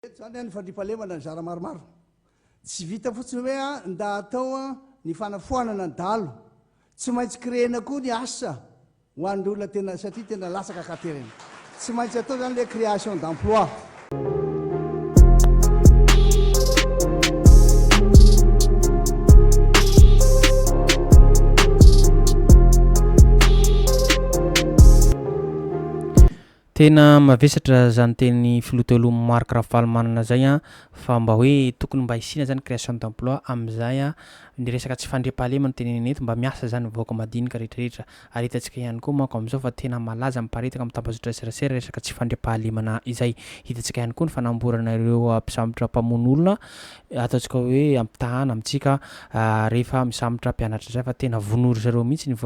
Eto izany ny fandriampahalemana nizara maromaro. Tsy vita fotsiny hoe ndà atao ny fanafoanana ny dahalo. Tsy maintsy créer-na koa ny asa ho an'ny olona tena satria tena latsaka katerina. Tsy maintsy atao izany ilay création d'emploi. Tena mavesatra zany teny filoha teo aloha Marc Ravalomanana zay an, fa mba hoe tokony mba hisiana zany création d'emploi amizay an, ny resaka tsy fandriampahalema no tenenina eto, mba miasa zany ny vahoaka madinika rehetra rehetra, ary hitantsika ihany koa manko amizao fa tena malaza miparitaka amin'ny tambazotra serasera resaka tsy fandriampahalemana izay, hitantsika ihany koa ny fanamborana ireo mpisambotra mpamono olona ataontsika hoe ampitahana amintsika rehefa misambotra mpianatra izay fa tena vonoy ry zareo mihitsy ny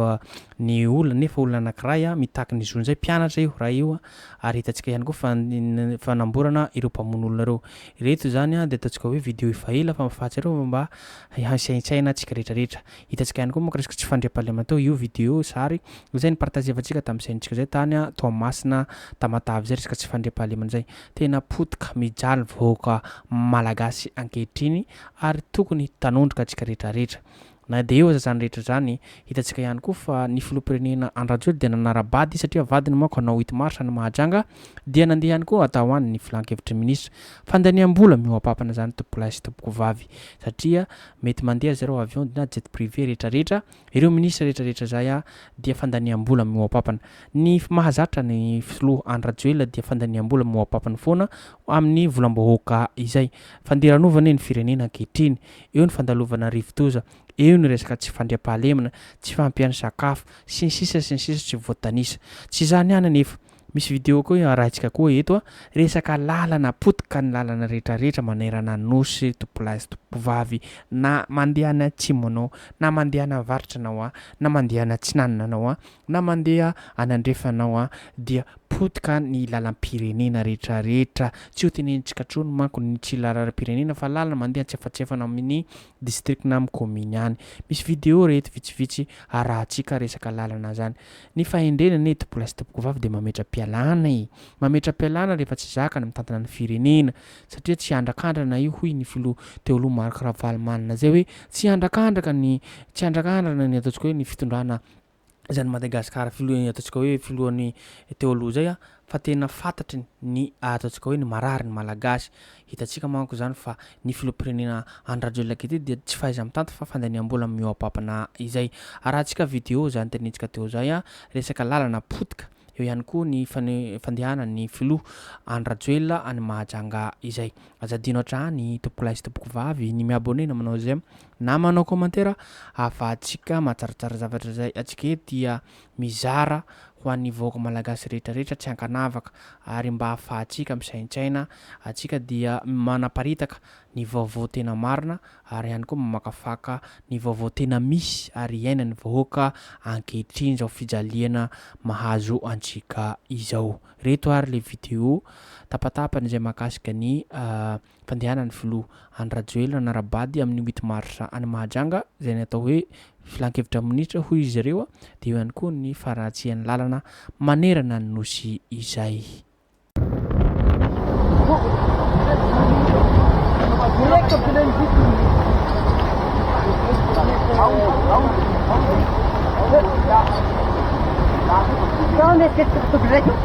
Ny olona anefa olona anankiray mitaky ny zony zay, mpianatra io ray io ary hitantsika ihany koa fa ny fanamborana ireo mpamono olona ireo. Ireto izany dia ataontsika hoe video efa ela fa fahatsiarovana fa mba hisaintsaina tsika rehetra rehetra. Hitantsika ihany koa manko resaka tsy fandriampahalemana teo io video io zary izay nipartazevantsika tamin'ny saintsika zay tany Toamasina Tamatave zay resaka tsy fandriampahalemana zay. Tena potika mijaly vahoaka malagasy ankehitriny ary tokony tanondrika tsika rehetra rehetra. Na dia eo aza izany rehetra izany, hitantsika ihany koa fa ny filoham-pirenena Andry Rajoelina dia nanara-bady izy satria vadiny manko hanao huit mars any Mahajanga dia nandeha ihany koa hatao any ny filan-kevitry ny minisitra. Fandaniam-bola mihoa-papana izany tompokolahy sy tompokovavy satria mety mandeha ry zareo avion na jet privé rehetra rehetra ireo minisitra rehetra rehetra izay dia fandaniam-bola mihoa-papana. Ny mahazatra ny filoha Andry Rajoelina dia fandaniam-bola mihoa-papany foana amin'ny volam-bahoaka izay. Fandiranovana ny firenena ankehitriny. eo ny fandalovana rivodoza, eo ny resaka tsy fandriampahalemana, tsy fahampian'ny sakafo, sy ny sisa sy ny sisa tsy voatanisa. Tsy izany ihany anefa. Misy video koa arahintsika koa eto a, resaka lalana potika ny lalana rehetra rehetra manerana ny Nosy, Tompolahy sy Tompovavy, na mandeha any atsimo anao, na mandeha any avaratra anao a, na mandeha any atsinanana anao a, na mandeha any andrefana anao a, dia Potika ny lalam-pirenena rehetrarehetra. Tsy ho tenenitsika intsony manko ny tsy lalarm-pirenena fa lalana mandeha antsefatsefana amin'ny district na amin'ny commune any. Misy video re eto vitsivitsy arahantsika resaka lalana zany. Ny fahendrena anie tompola sy tompokovavy dia mametra-pialana e! Mametra-pialana rehefa tsy zaka ny mitantana ny firenena satria tsy andrakandrana io hoy ny filoha teo aloha Marc Ravalomanana zay hoe tsy andrakandraka ny tsy andrakandrana ny ataontsika hoe ny fitondrana izay an'i Madagasikara filoha ny ataontsika hoe filohan'ny teo aloha izay a, fa tena fantatry ny ataontsika hoe ny mararin'ny Malagasy. Hitantsika manko izany fa ny filoham-pirenena Andry Rajoelina ankehitriny dia tsy fahaiza-mitanty fa fandaniam-bola mihoa-pampana izay. Arahantsika video izany tenenintsika teo izay a, resaka lalana potika, eo ihany koa ny fandehanan'ny filoha Andry Rajoelina any Mahajanga izay. Aza adino hatrany tompokolahy sy tompokovavy ny mi-abonner na manao j'aime Na manao commentaire afahantsika matsaratsara zavatra izay antsika eto dia mizara ho an'ny vahoaka malagasy rehetra rehetra tsy ankanavaka ary mba afahantsika misaintsaina antsika dia manaparitaka ny vaovao tena marina ary ihany koa mamakafaka ny vaovao tena misy ary iainan'ny vahoaka ankehitriny izao fijaliana mahazo antsika izao. Ireto ary le video tapatapany izay mahakasika ny fandehanan'ny filoha Andry Rajoelina hanara-bady amin'ny huit mars any Mahajanga izay ny atao hoe filankevitra minisitra hoy izy ireo dia eo ihany koa ny faharatsian'ny lalana manerana ny Nosy izay Thank you.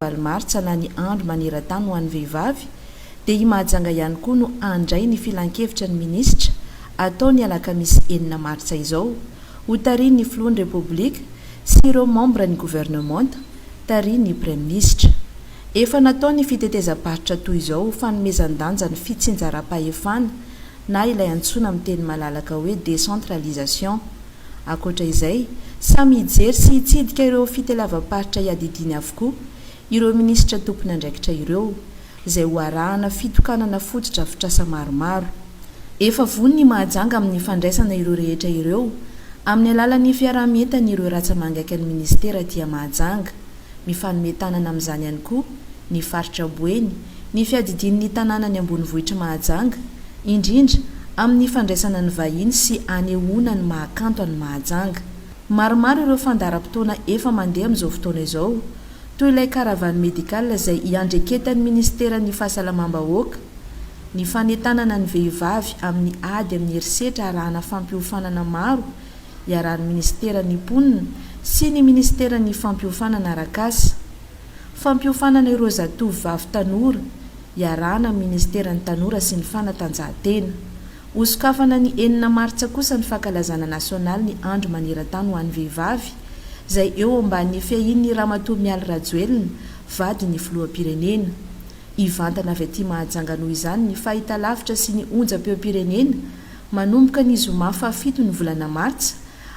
Valo martsa na ny andro maneran-tany ho an'ny vehivavy dia i Mahajanga ihany koa no handray ny filankevitra ny minisitra atao ny alakamisy enina martsa izao, ho tarihin'ny filohan'ny Repoblika sy ireo mambra ny governemanta tarihin'ny praiminisitra. Efa natao ny fitetezam-paritra toy izao ho fanomezan-danja ny fitsinjaram-pahefana na ilay antsoina amin'ny teny malalaka hoe décentralisation. Ankoatra izay, samy hijery sy hitsidika ireo fitelavam-paritra iadidiany avokoa Ireo minisitra tompon'andraikitra ireo, izay ho arahana fitokanana fotodrafitrasa maromaro. Efa vonona i Mahajanga amin'ny fandraisana ireo rehetra ireo amin'ny alalan'ny fiaraha-mientan'ireo ratsa-mangaikan'ny minisitera aty Mahajanga. Mifanome tanana amin'izany ihany koa ny faritra Boeny, ny fiadidian'ny tanànan'ny ambonivohitr'i Mahajanga, indrindra amin'ny fandraisana ny vahiny sy hanehoana ny maha kanto an'i Mahajanga. Maromaro ireo fandaharam-potoana efa mandeha amin'izao fotoana izao, toy ilay caravane médicale izay iandreketan'ny minisiteran'ny Fahasalamam-bahoaka, ny fanentanana ny vehivavy amin'ny ady amin'ny herisetra arahana fampiofanana maro iarahan'ny minisiteran'ny Mponina sy ny minisiteran'ny Fampiofanana Arak'asa, fampiofanana ireo zatovovavy tanora iarahana amin'ny minisiteran'ny Tanora sy ny Fanatanjahantena, Ho sokafana ny enina martsa kosa ny fankalazana nasionaly ny andro maneran-tany ho an'ny vehivavy, izay eo ambanin'ny fiahian'ny Ramatoa Mialy Rajoelina, vadin'ny filoham-pirenena. Hivantana avy aty Mahajanga noho izany ny fahitalavitra sy ny onjam-peom-pirenena, manomboka ny zoma fahafito ny volana martsa,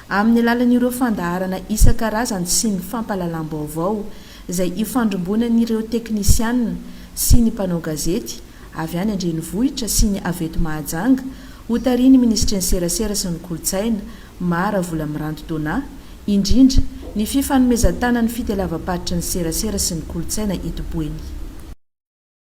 amin'ny alalan'ireo fandaharana isan-karazany sy ny fampahalalam-baovao, izay ifandrombonan'ireo teknisianina sy ny mpanao gazety, avy any an-drenivohitra sy ny avy eto Mahajanga, hotarihin'ny minisitry ny Serasera sy ny Kolontsaina, Mah Ravolamiranty Donat, indrindra, ny fifanomezan-tanan'ny fitelavam-paritry ny Serasera sy ny Kolontsaina eto Boeny.